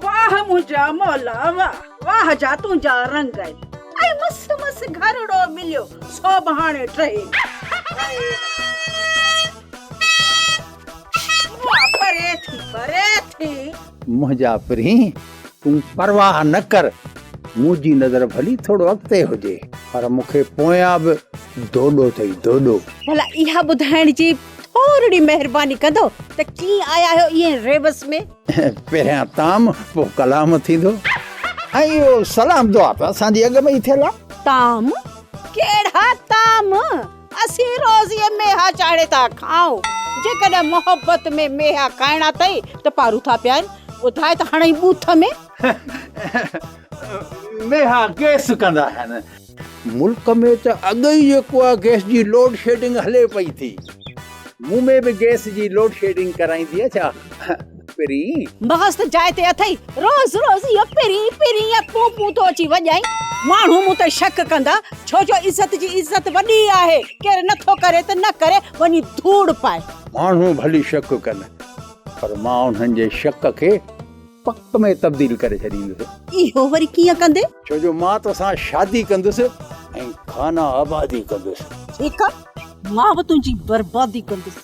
واھ منهنجا مولا واھ واھ جا تنهنجا رنگ ۽ مست مست گهرڙو مليو سو به هاڻي ٽهي پري ٿي پري ٿي. منهنجا پرينء تون پرواهه نه ڪر منهنجي نظر ڀلي ٿورو اڳتي هجي پر مون کي پويان به دوڏو اٿئي دوڏو. ڀلا اها ٻڌائڻ جي. ٿورڙي مهرباني ڪندو ته ڪيئن آيا آهيو ائين ريبس ۾. پهريان طعام پوء ڪلام ٿيندو. ۽ اهو سلام دعا ته اسان جي اڳ ۾ ئي ٿيل آهي. طعام؟ ڪهڙا طعام؟ اسين روزيء ميها چاڙهي ٿا کائون. جيڪڏهن محبت ۾ ميها کائڻا اٿئي ته پارو ٿا پيائين. ٻڌاء ته هڻئي ٻوٿ ۾. ميها ڪيس ڪندا آهن. ملڪ ۾ ته اڳ ئي جيڪو آهي گئس جي لوڊ شيڊنگ هلي پئي ٿي مون ۾ به گئس جي لوڊ شيڊنگ ڪرائيندي ڇا پرين. مغز ته جاء تي اٿئي روز روز اهو پرين پرين يا پون پون ٿو اچي وڄائين. ماڻهو مون تي شڪ ڪندا ڇو جو عزت جي عزت وڏي آهي ڪير نه ٿو ڪري ته نه ڪري وڃي ڌوڙ پائي. ماڻهو ڀلي شڪ ڪن پر مان انهن جي شڪ کي. پڪ ۾ تبديل ڪري ڇڏيندس. اهو وري ڪيئن ڪندين؟ ڇو جو مان توسان شادي ڪندس ۽ خانه آبادي ڪندس. ٺيڪ آ مان به تنهنجي بربادي ڪندس.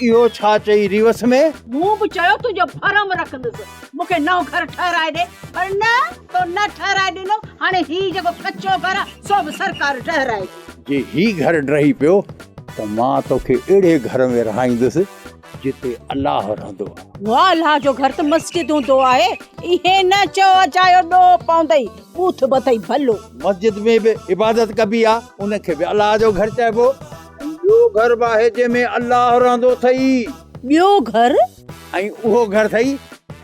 اهو ڇا چئي ريوس ۾. مون به چيو تنهنجو ڀرم رکندس. مون کي نئون گهر ٺهرائي ڏي پر نه تو نه ٺهرائي ڏنو هاڻي هي جيڪو ڪچو گهر آ سو به سرڪار ڊهرائي. جي هي گهر ڊهي پيو ته مان توکي اهڙي گهر ۾ رهائيندس. جتي الله رهندو آهي. واه الله جو گهر ته مسجد هوندو آهي ائين نه چئو اجايو ڏوهه پوندئي ٻوٿ ٻڌئي ڀلو. مسجد ۾ به عبادت ڪبي آهي ان کي به الله جو گهر چئبو. ٻيو گهر به آهي جنهن ۾ الله رهندو اٿئي. ٻيو گهر؟ ۽ اهو گهر اٿئي.